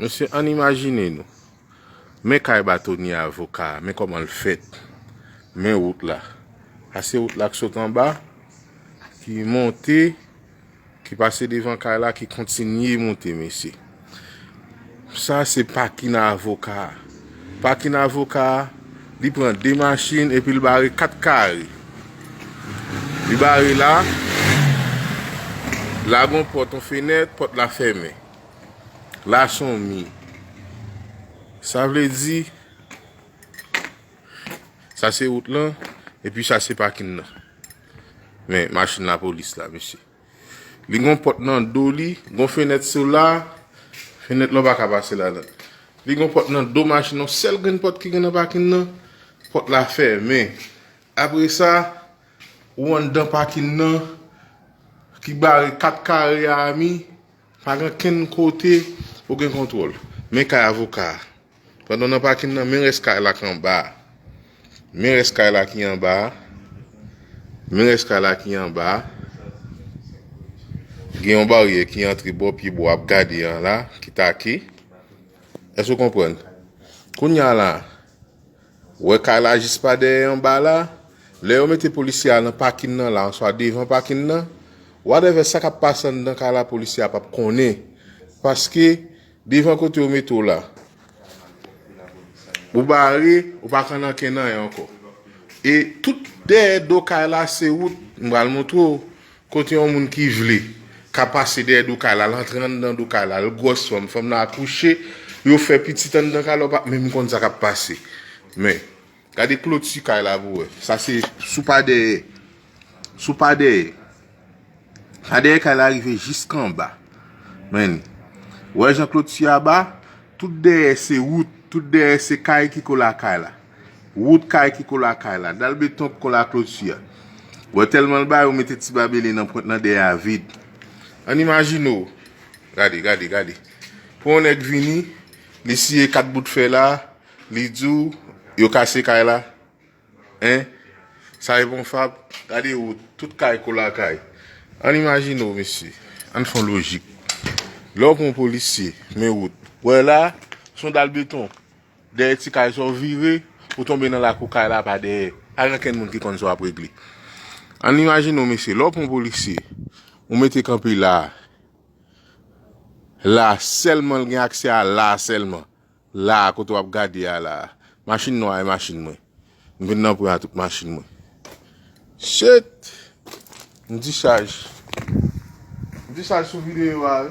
Mesye ann imajine nou, men kay batonye avoka a, men kòman l fèt, men wout la. A se wout la k sot anba, ki monte, ki pase devan kay la, ki kontinye monte mesye. Sa se pakin a avoka a. Pakin a avoka a, li pran 2 machin epi l bare 4 kare. Li bare la, la gon pòt, on fenèt, pòt la fèmen. La son mi. Sa vle di. Sa se wout lan. E pi sa se pakin nan. Men machin la polis la mesye. Li gon pot nan do li. Gon fenet sou la. Fenet la baka pase la nan. Li gon pot nan do machin nan. Sel gen pot ki gen nan pakin nan. Pot la fe. Men. Apre sa. Ou an dan pakin nan. Ki bare kat kare a mi. Pa gen kenn kote ou gen kontwòl. Men kay avoka a. Pandan w nan pakin nan, men rès kay la k anba a. Men rès kay la ki anba a. Men rès kay la ki anba a. Gen yon baryè ki antre bò pye bò ap gade an la, ki take. Èske w konprann? Kounya la, Wè kay la jis pa dèyè anba la, lè yo mete polisye a nan pakin nan la answa devan pakin nan, whatever sa kap pase anndan kay la polisye a pap konnen paske devan kote yo mete w la ou bare ou pa ka nan ken anyen ankò e tout dèyè do kay la se wout m pral montre w Kote yon moun ki vle ka pase dèyè do kay la, al antre anndan do kay la, l gwòs fanm, fanm nan akouche, yo fè pitit anndan kay la, ou pa menm konn sa k ap pase. Men, gade kloti kay la pou w wè. Sa se sou pa dèyè. Sou pa dèyè. Pa dèyè kay la rive jiska anba. Men, wè jan kloti a ba, tout dèyè se wout, tout dèyè se kay ki kole a kay la. Wout kay ki kole a kay la. Dal beton ki kole a kloti a. Wè tèlman l ba yo mete ti babele nan pwent lan dèyè a vid. Ann imajine w. Gade, gade, gade. Pou yon nèg vini, li siye 4 bout fè la, li di w, yo kase kay la. Hein? Sa e bon fab? Gade wout, tout kay kole a kay. Ann imajine w mesye. Ann fè yon lojik. Lè w pran yon polisye, men wout. Wè la, son dal beton. Dèyè ti kay sa w vire, ou tonbe nan lakou kay la pa dèyè. Pa gen okenn moun ki konn sa w ap regle. Ann imajine w mesye, lè w pran yon polisye, ou mete kanpe la a, la a sèlman l gen aksè a la a sèlman, la a kote w ap gade a la a. Machin nwa a e machin mwen. M vin nan pran tout machin mwen. Shet! M dichaj. M dichaj sou videyo a wi.